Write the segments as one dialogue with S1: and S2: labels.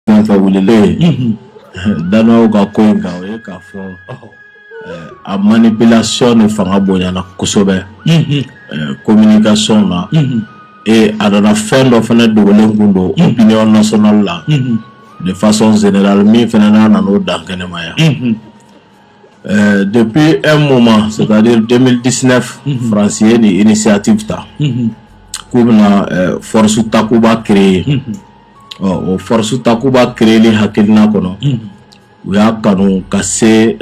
S1: Fɛn fɛn wililen Danois ka ko in kan o ye k'a fɔ a manipulation de fanga bonyana kosɛbɛ communication na et a nana fɛn dɔ fana dogolen kun don opinion nationale la de façon générale min fana n'a nana o dan kɛnɛma yan. Ɛɛ depi e mun ma se denmisɛnninmidisɛnɛ faransi ye ni i ni seyati bɛ taa k'u bɛ foroorosu takuba kire ye ɔ o foroorosu takuba kire ni hakiina kɔnɔ u y'a kanu ka se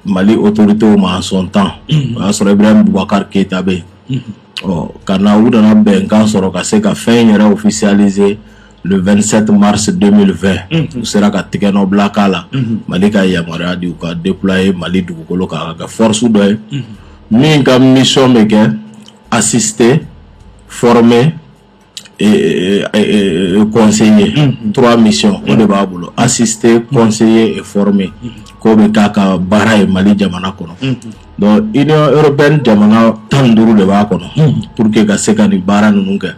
S1: mali o torite ma sɔn tan o y'a sɔrɔ i bɛ bubakari keyitata bɛ yen ɔ ka na u nana bɛnkan sɔrɔ ka se ka fɛn yɛrɛ ofisalize 2sɛti marisi denfɛ u sera ka tigɛ nɔ bila k'a la mali ka yamaruya de ka de ye mali dugukolo ka ka forooroso dɔ ye min ka misɔn bɛ kɛ asise fmɛ kɔnse ye tura misi o de b'a bolo asise kɔnse ye fmɛ k'o bɛ taa ka baara ye mali jamana kɔnɔ Bon i yɔrɔ bɛ ni jamana tan duuru de b'a kɔnɔ pur que ka se ka nin baara ninnu kɛ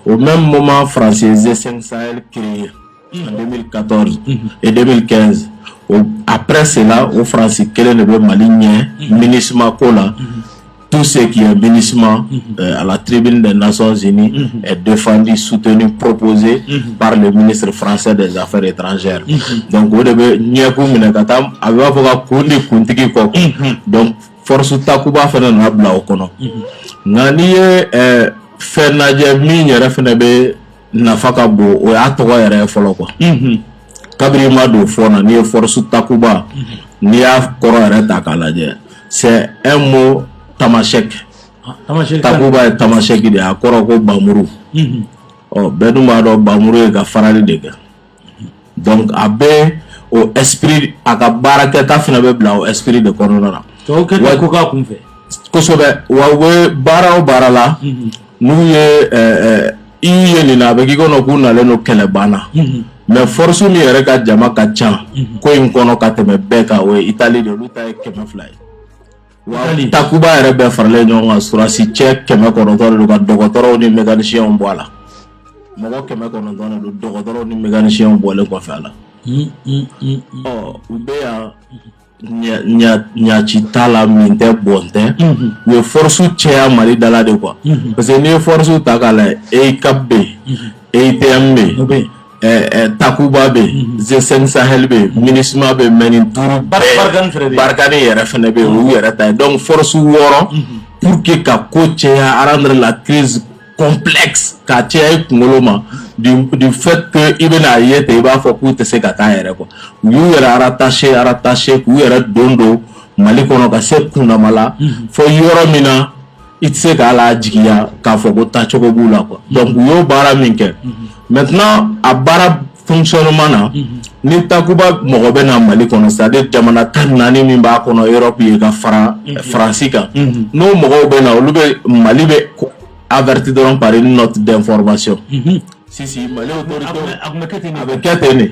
S1: o bɛ mɔma farasensensan ke ye bɛ ka tɔn e de bɛ kɛ a bɛ senna o faransi kelen de bɛ mali ɲɛ minima ko la tu se k'i ye minima a la tile bɛ de nasɔn sen defandi sutini ppzse baara de minisiriri faransɛ de zanafɛ de ta étrangères donc o de bɛ ɲɛkun minɛ ka taa a b'a fɔ ka kun di kuntigi kɔ donc force takuba fana nana bila o kɔnɔ nka n'i ye fɛn lajɛ min yɛrɛ fana bɛ nafa ka bon o y'a tɔgɔ yɛrɛ ye fɔlɔ quoi kabiri ma don fɔ na n'i ye force takuba n'i y'a kɔrɔ yɛrɛ ta k'a lajɛ c'est un mot tamasɛki takuba ye tamasɛki de ye a kɔrɔ ko bamuru ɔ bɛɛ dun b'a dɔn bamuru ye ka fagali de kɛ donc a bɛ o esprit a ka baara kɛta fana bɛ bila o esprit de kɔnɔna na tɔw kɛ wa ko k'a
S2: kun fɛ kosɛbɛ wa
S1: u bɛ baara o baara la mhm. n'u ye i ye nin na a bɛ k'i kɔnɔ k'u nalen don kɛlɛban na mhm. mais force min yɛrɛ ka jama ka ca mhm. ko in kɔnɔ ka tɛmɛ bɛɛ kan o ye itali de olu ta ye kɛmɛ fila ye takuba yɛrɛ bɛɛ faralen ɲɔgɔn kan surasi cɛ kɛmɛ kɔnɔntɔn de don ka dɔgɔtɔrɔw ni mɛkanisiyɛnw bɔ a la mɔgɔ kɛmɛ kɔnɔntɔn de don dɔgɔtɔrɔw ni mɛkanisiyɛnw bɔlen kɔfɛ a la ɔ u bɛ yan ɲaci t'a la min tɛ bɔn tɛ u ye force cɛya mali dala de quoi parce que n'i ye force ta k'a lajɛ EUCAP bɛ yen EUTM bɛ yen takuba bɛ yen G5 Sahel bɛ yen MINUSMA bɛ mɛ nin duuru Barkhane yɛrɛ fana bɛ yen u yɛrɛ ta yen donc force wɔɔrɔ pour que ka ko caya rendre la crise complexe ka caya i kunkolo ma du fait que i bɛna a ye ten i b'a fɔ k'u tɛ se ka taa yɛrɛ quoi u y'u yɛrɛ rattacher rattacher k'u yɛrɛ don don mali kɔnɔ ka se kundama la fo yɔrɔ min na i tɛ se k'a la jigiya k'a fɔ ko taacogo b'u la quoi donc u y'o baara min kɛ maintenant a baara fonctionnement na ni takuba mɔgɔ bɛ na mali kɔnɔ c'est-à-dire jamana tan ni naani min b'a kɔnɔ Europe ye ka fara faransi kan n'o mɔgɔw bɛ na olu bɛ mali bɛ avertir dɔrɔn par une note d'information si mali a bɛ kɛ ten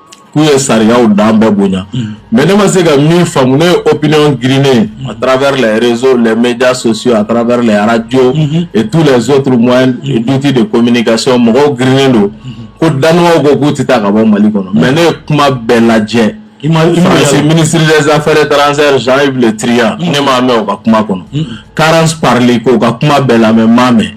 S2: k'u ye
S1: sariyaw dan bɛɛ bonya mm. mais ne ma se ka min faamu ne ye opinion girinnen mm. à travers les réseaux les médias sociaux à travers les radios mm-hmm. et tous les autres moyens et mm-hmm. d'outils de communication mɔgɔw girinnen don mm-hmm. ko Danois ko k'u tɛ taa ka bɔ mali kɔnɔ mais ne ye kuma bɛɛ lajɛ France ministre des affaires étrangères Jean-Yves Le Drian ne m'a mɛn o ka kuma kɔnɔ Karans parili ko ka kuma bɛɛ la mɛ maa mɛn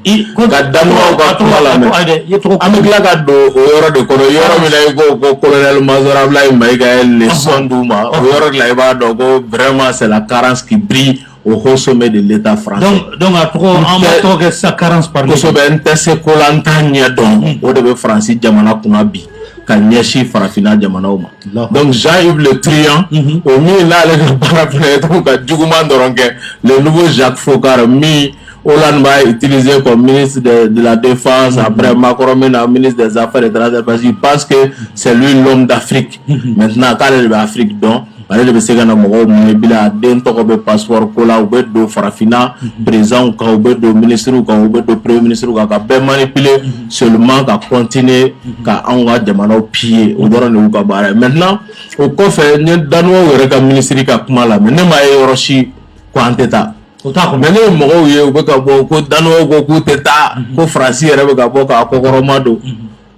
S1: ka da ka kuma la an bɛ tila ka don o yɔrɔ de kɔnɔ yɔrɔ min i ko ko kolonli masɔrɔla in ma i ka lesɔnon di ma o yɔrɔ la i b'a dɔn ko bɛrɛma sela karansi bi o hsɔ bɛ de le fara tɔgɔ
S2: sa karansɛbɛ n tɛ se ko
S1: la an taa ɲɛ dɔn o de bɛ faransi jamana kunna bi ka ɲɛsin farafinna jamanaw ma Donc Jean Yves Le Drian mhm. o min n'ale ka baara fana ye dɔrɔn ka juguman dɔrɔn kɛ le nouveau Jacques Foccart min Hollande b'a utiliser comme ministre de, de la Défense, mm -hmm. après Macron maintenant ministre des Affaires étrangères, parce qu'il pense que c'est lui l'homme d'Afrique. Mm -hmm. Maintenant, k'ale de bɛ Afrique dɔn, ale de bɛ se ka na mɔgɔw manipuler a den tɔgɔ bɛ passeport ko la u bɛ don farafinna président kan u bɛ don ministre kan u bɛ don premier ministre kan ka bɛɛ manipuler seulement ka continuer ka anw ka jamanaw piller o dɔrɔn de y'u ka baara ye maintenant o kɔfɛ n ye Danois yɛrɛ ka minisiri ka kuma lamɛn ne m'a ye yɔrɔ si ko an tɛ taa o t'a kɔnɔ mais ne ye mɔgɔw ye u bɛ ka bɔ ko Danois ko k'u tɛ taa ko Faransi yɛrɛ bɛ ka bɔ k'a kɔkɔrɔma don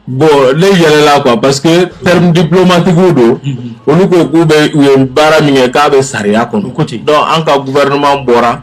S1: bon ne yɛlɛla quoi parce que terme diplomatique don olu ko k'u bɛ u ye baara min kɛ k'a bɛ sariya kɔnɔ donc an ka gouvernement bɔra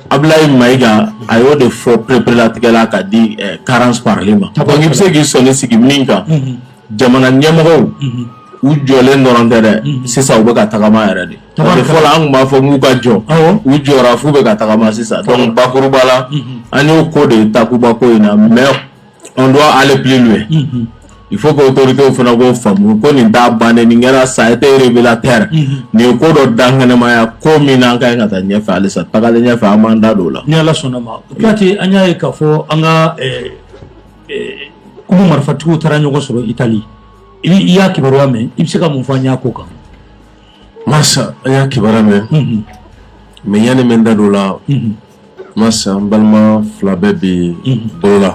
S1: Abulayi Mayiga a y'o de fɔ pereperelatigɛ la ka di Carence Parly ma donc i bɛ se k'i sɔnin sigi min kan jamana ɲɛmɔgɔw u jɔlen dɔrɔn tɛ dɛ sisan u bɛ ka tagama yɛrɛ de fɔlɔ an tun b'a fɔ k'u ka jɔ u jɔra f'u bɛ ka tagama sisan donc bakuruba la an y'o ko de ye takuba ko in na mais on doit aller plus loin mm-hmm. il faut que autorité fana k'o faamu ko nin t'a bannen nin kɛra ça a été révélateur mm-hmm. nin ye ko dɔ dankɛnɛmaya ko min n'an ka ɲi ka taa ɲɛfɛ halisa tagalen ɲɛfɛ an b'an da don o la ni ala sɔnna ma
S2: kuyate an y'a ye k'a fɔ an ka eh, eh, kulu marifatigiw taara ɲɔgɔn sɔrɔ itali i y'a kibaruya mɛn i bɛ se ka mun fɔ an y'a ko kan masa
S3: an y'a kibaruya mɛn mm-hmm. mais yanni n bɛ n da don o la masi an balima fila bɛɛ bɛ bolo la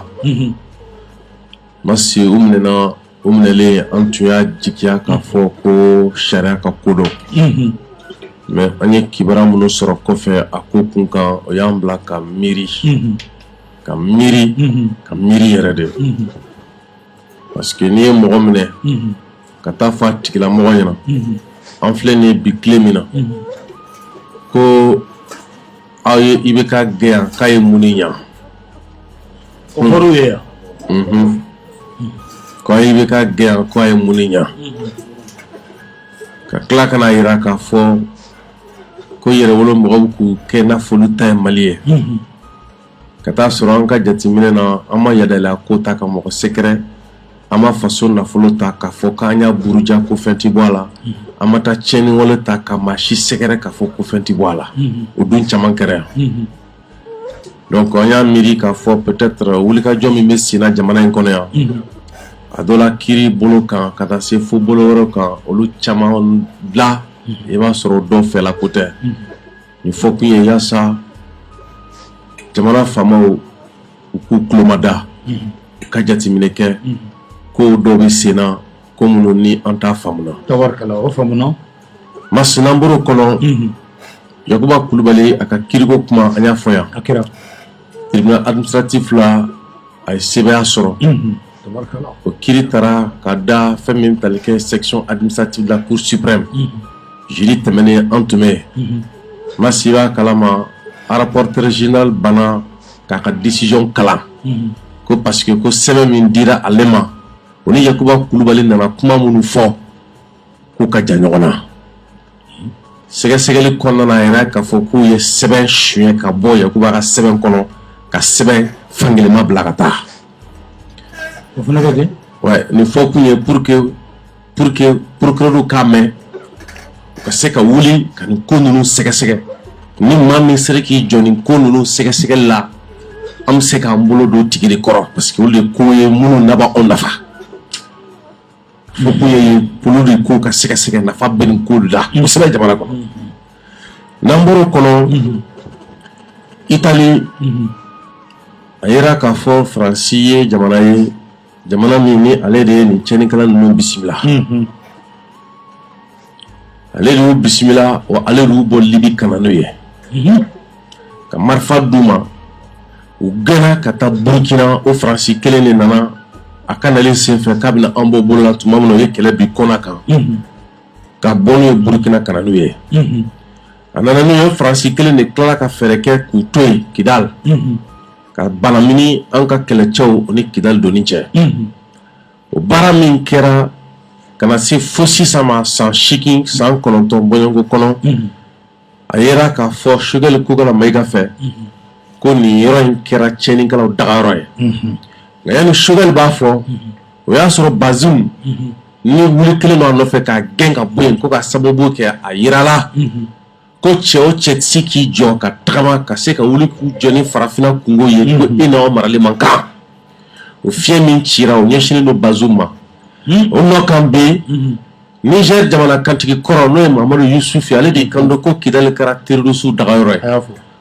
S3: masi u minɛna u minɛlen an tun y'a jigiya k'a fɔ ko sariya ka ko don mais an ye kibaruya minnu sɔrɔ kɔfɛ a ko kun kan o y'an bila ka miiri ka miiri ka miiri yɛrɛ de parce que n'i ye mɔgɔ minɛ ka t'a fɔ a tigilamɔgɔ ɲɛna an filɛ nin ye bi tile min na ko aw ye IBK gɛn yan k'a ye mun de ɲa
S2: o fɔr'u ye
S3: yan ko aw ye IBK gɛn yan k'a ye mun de ɲa ka tila ka n'a yira k'a fɔ ko yɛrɛwolo mɔgɔw k'u kɛ n'a fɔ olu ta ye mali ye ka taa sɔrɔ an ka jateminɛ na an ma yadala ko ta ka mɔgɔ sɛgɛrɛ an ma faso nafolo ta k'a fɔ k'an y'a buruja ko fɛn tɛ bɔ a la an ma taa tiɲɛniwale ta ka maa si sɛgɛrɛ k'a fɔ ko fɛn tɛ bɔ a la o dun caman kɛra yan donc an y'a miiri k'a fɔ peut-être wulikajɔ min bɛ senna jamana in kɔnɔ yan a dɔ la kiri bolo kan ka taa se fo bolo wɛrɛ kan olu caman na i b'a sɔrɔ dɔ fɛla ko tɛ Nin fɔ kun ye yasa jamana faamaw u k'u kulomada ka jateminɛ kɛ ko dɔw bɛ senna ko minnu ni an t'a faamu
S2: o faamuna masi n'an
S3: bɔr'o kɔnɔ yakuba kulubali a ka kiriko kuma an y'a fɔ yan a kɛra
S2: tribunal
S3: administratif la a ye sebaaya sɔrɔ
S2: o kiri
S3: taara ka da fɛn min tali kɛ section administrative de la cour suprême jeudi tɛmɛnen an tun bɛ yen masi b'a kalama rapporteur général banna k'a ka décision kalan ko parce que ko sɛbɛn min dira ale ma o ni yakuba kulubali nana kuma minnu fɔ k'u ka jan ɲɔgɔn na sɛgɛsɛgɛli kɔnɔna a yera k'a fɔ k'u ye sɛbɛn suɲɛ ka bɔ yakuba ka sɛbɛn kɔnɔ ka sɛbɛn fankelenma bila ka taa
S2: o fana bɛ kɛ nin fɔ kun ye
S3: pour que pour que procureur k'a mɛn u ka se ka wuli ka nin ko ninnu sɛgɛsɛgɛ ni maa min sera k'i jɔ nin ko ninnu sɛgɛsɛgɛli la an bɛ se k'an bolo don tigi de kɔrɔ parce que olu de ko ye minnu laban anw nafa Fɔ kun ye kulu de ko ka sɛgɛsɛgɛ nafa bɛ nin ko la kosɛbɛ jamana kɔnɔ n'an bɔra o kɔnɔ Itali a yera k'a fɔ faransi ye jamana ye jamana min ni ale de ye nin tiɲɛnikɛla ninnu bisimila ale de y'u bisimila wa ale de y'u bɔ libi ka na n'u ye mhm. ka marifa d'u ma u gɛnna ka taa burukina o faransi kelen de nana a ka nalen senfɛ k'a bɛna an bɔ bolo la tuma min na o ye kɛlɛ bin kɔna kan mhm. ka bɔ n'u ye burukina ka na n'u ye mhm. a nana n'u ye faransi kelen de tilala ka fɛɛrɛ kɛ k'u to yen kidal ka banamini an ka kɛlɛcɛw ni kidal donni cɛ o baara min kɛra ka na se fo sisan ma san seegin san kɔnɔntɔn bɔɲɔgɔnko kɔnɔ a yera k'a fɔ sogɛli kokala mayiga fɛ ko nin yɔrɔ in kɛra tiɲɛnikɛlaw dagayɔrɔ ye nka yanni sogɛli b'a fɔ o y'a sɔrɔ bazum nin wuli kɛlen don a nɔfɛ k'a gɛn ka bɔ yen ko ka sababu kɛ a jirala Ko cɛ o cɛ tɛ se k'i jɔ ka tagama ka se ka wuli k'u jɔ ni farafinna kungo ye ko e n'aw marali man kan o fiɲɛ min cira o ɲɛsinnen don bazum ma o nɔ kan bɛ yen nizɛri jamana kantigi kɔrɔ n'o ye mamadu yusufu ale de kan don ko kidali kɛra terroriste dagayɔrɔ ye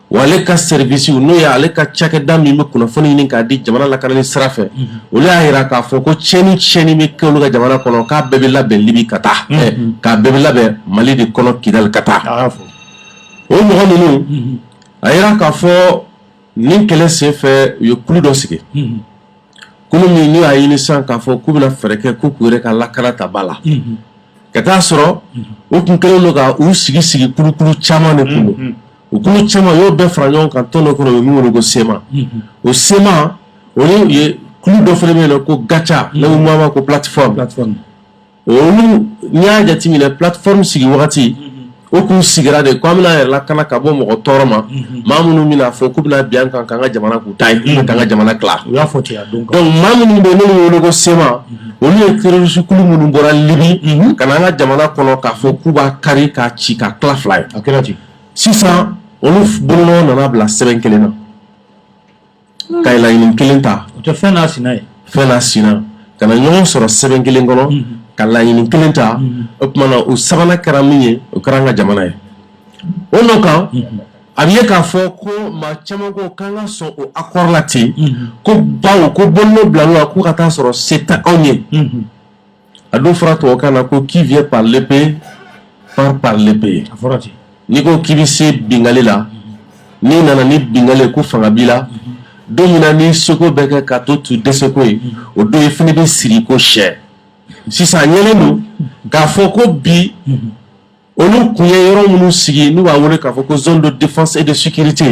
S3: wa ale ka service n'o ye ale ka cakɛda min bɛ kunnafoni ɲini k'a di jamana lakanali sira fɛ olu y'a jira k'a fɔ ko cɛni tiɲɛni bɛ kɛ olu ka jamana kɔnɔ k'a bɛɛ bɛ labɛn libi ka taa k'a bɛɛ bɛ labɛn mali de kɔnɔ kidali ka taa o mɔgɔ ninnu a jira k'a fɔ nin kɛlɛ senfɛ u ye kulu dɔ sigi kulu min n'u y'a ɲini sisan k'a fɔ k'u bɛna fɛɛrɛ kɛ ko k'u yɛrɛ ka lakana ta ba la ka t'a sɔrɔ u tun kɛlen don ka u sigi sigi kulukulu caman de tun don kulu caman y'o bɛɛ fara ɲɔgɔn kan tɔn dɔ kɔnɔ u ye min wele ko sema o sema o ye u ye kulu dɔ fana bɛ yen n'o ko gacha n'o mama ko plateforme olu n'i y'a jateminɛ plateforme sigi wagati o k'u sigira de ko an bɛna yɛrɛ lakana ka bɔ mɔgɔ tɔɔrɔ ma maa minnu bɛna fɔ k'u bɛna bin an kan k'an ka jamana k'u ta ye k'u ka an ka jamana tila u y'a fɔ ten a
S2: don donc maa minnu
S3: bɛ yen n'olu bɛ wele ko sema olu ye terroriste kulu minnu bɔra Libi ka na an ka jamana kɔnɔ k'a fɔ k'u b'a kari k'a ci ka tila fila ye a kɛra ten sisan olu bolonɔ nana bila sɛbɛn kelen na ka laɲini kelen ta fɛn n'a
S2: sina ye fɛn n'a
S3: sina ka na ɲɔgɔn sɔrɔ sɛbɛn kelen kɔnɔ ka laɲini kelen ta o tuma na o sabanan kɛra min ye o kɛra an ka jamana ye o nɔ kan a bɛ ye k'a fɔ ko maa caman ko k'an ka sɔn o accord la ten ko bawo ko bolonɔ bilala k'u ka t'a sɔrɔ se tɛ anw ye A don fɔra tɔgɔkan na ko qui vient par l'épée part par l'épée n'i
S2: ko k'i bɛ se
S3: binkali la n'i nana ni binkali ko fanga b'i la don min na n'i seko bɛɛ kɛ k'a tɔ to dɛsɛko ye o don i fana bɛ siri ko sɛ sisan ɲɛlen don k'a fɔ ko bi olu kun ye yɔrɔ minnu sigi n'u b'a wele k'a fɔ ko zone de défense et de sécurité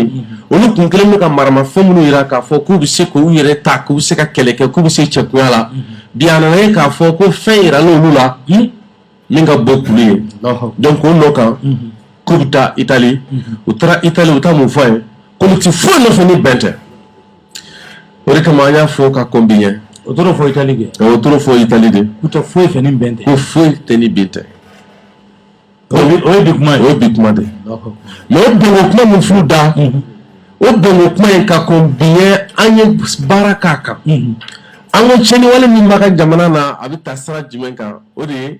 S3: olu kun kɛlen bɛ ka maramafɛn minnu jira k'a fɔ k'u bɛ se k'u yɛrɛ ta k'u bɛ se ka kɛlɛ kɛ k'u bɛ se cɛkuya la bi a nana ye k'a fɔ ko fɛn yirala olu la min ka bon kulu ye donc o nɔ kan k'u bɛ taa Italie u taara Italie u taa mun fɔ yen k'olu tɛ foyi nɔfɛ ni bɛn tɛ. o de kama an y'a fɔ ka kɔn bi ɲɛ o taar'o fɔ
S2: Italie kɛ o taar'o fɔ Italie
S3: de k'u tɛ foyi fɛ ni bɛn
S2: tɛ ko foyi tɛ ni bɛn
S3: tɛ
S2: o ye bi kuma ye o ye bi kuma de
S3: ye mais o bɛnko kuma min f'u da mhm. o bɛnko kuma in ka kɔn bi ɲɛ an ye baara k'a kan mhm. an ko tiɲɛniwale min b'an ka jamana na a bɛ taa sira jumɛn kan o de ye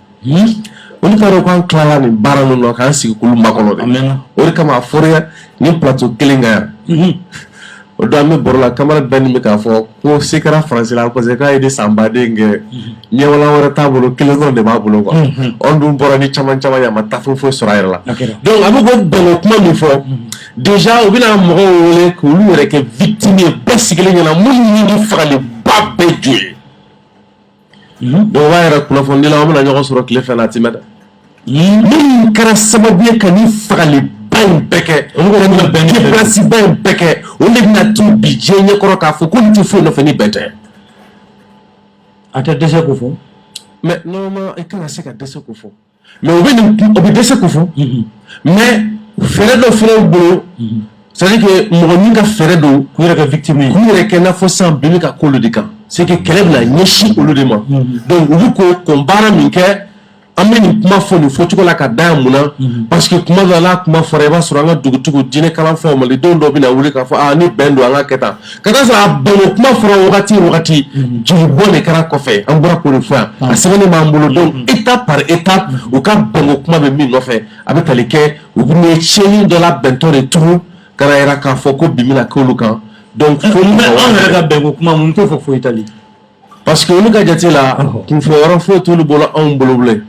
S3: olu k'a dɔn k'an tilala nin baara ninnu na k'an sigi k'olu makɔnɔ dɛ, a mɛnna, o de kama
S2: a
S3: fɔra nin plateau kelen kan yan o don an bɛ baro la camarade Dani bɛ k'a fɔ ko se kɛra faransi la parce que k'a ye de san baden kɛ ɲɛwalan wɛrɛ t'a bolo kelen dɔrɔn de b'a bolo quoi anw dun bɔra ni caman caman ye a ma taa foyi foyi sɔrɔ a yɛrɛ la donc a bɛ k'o bɛnko kuma min fɔ déjà u bɛna mɔgɔw wele k'olu yɛrɛ kɛ victime ye bɛɛ sigilen ɲɛna minnu ni fagaliba bɛɛ jo ye yɛrɛ kunnafonidilaw bɛna ɲɔgɔn sɔrɔ tile fɛ a ti mɛn dɛ minnu kɛra sababu ye ka ni fagaliba in bɛɛ kɛ kɛsiba in bɛɛ kɛ o de bɛna to bi diɲɛ ɲɛ kɔrɔ k'a fɔ k'olu tɛ foyi nɔfɛ ni bɛn
S2: tɛ a tɛ dɛsɛ k'o fɔ mais normalement
S3: i kana se ka dɛsɛ k'o fɔ mais u bɛ u bɛ dɛsɛ k'o fɔ mais fɛɛrɛ dɔ fana y'u bolo c'est-à-dire que mɔgɔ min ka fɛɛrɛ don k'u yɛrɛ kɛ victime ye k'u
S2: yɛrɛ kɛ n'a fɔ san
S3: bin bɛ ka k'olu de kan c'est que kɛlɛ bɛna ɲɛsin olu de ma donc u bɛ k'o kɔn baara min kɛ an bɛ nin kuma fɔ nin fɔ cogo la ka da yan mun na parce que kuma dɔ la kuma fɔra i b'a sɔrɔ an ka dugutigiw diinɛ kalanfaw mali denw dɔ bɛna wuli k'a fɔ ni bɛn don an k'a kɛ tan ka taa sɔrɔ a bɛnko kuma fɔra wagati o wagati mhm. jeli bɔn de kɛra kɔfɛ an bɔra k'o de fɔ yan a sɛbɛnnen b'an bolo donc mhm. étape par étape u ka bɛnko kuma bɛ min nɔfɛ a bɛ tali kɛ u bɛ ye tiɲɛni dɔ labɛntɔ de tugu ka na yira k'a fɔ ko bin bɛna k'olu kan donc fo mɛ an yɛrɛ ka
S2: bɛnko kuma mun t'o fɔ fo Italie parce que olu
S3: ka jate la kunfɔ yɔrɔ foyi t'olu bolo anw bolo bilen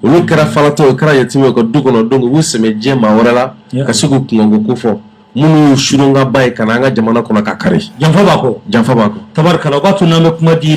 S3: olu kɛra falatɔ o kɛra yatimɛ ka du kɔnɔ donc u b'u sɛmɛ diɲɛ maa wɛrɛ la ka se k'u kunkanko ko fɔ minnu y'u surun ka bɔ yen ka na an
S2: ka
S3: jamana kɔnɔ
S2: k'a kari
S3: janfa b'a kɔ
S2: janfa
S3: b'a kɔ tari
S2: u
S3: b'a tun
S2: n'an bɛ
S3: kuma
S2: di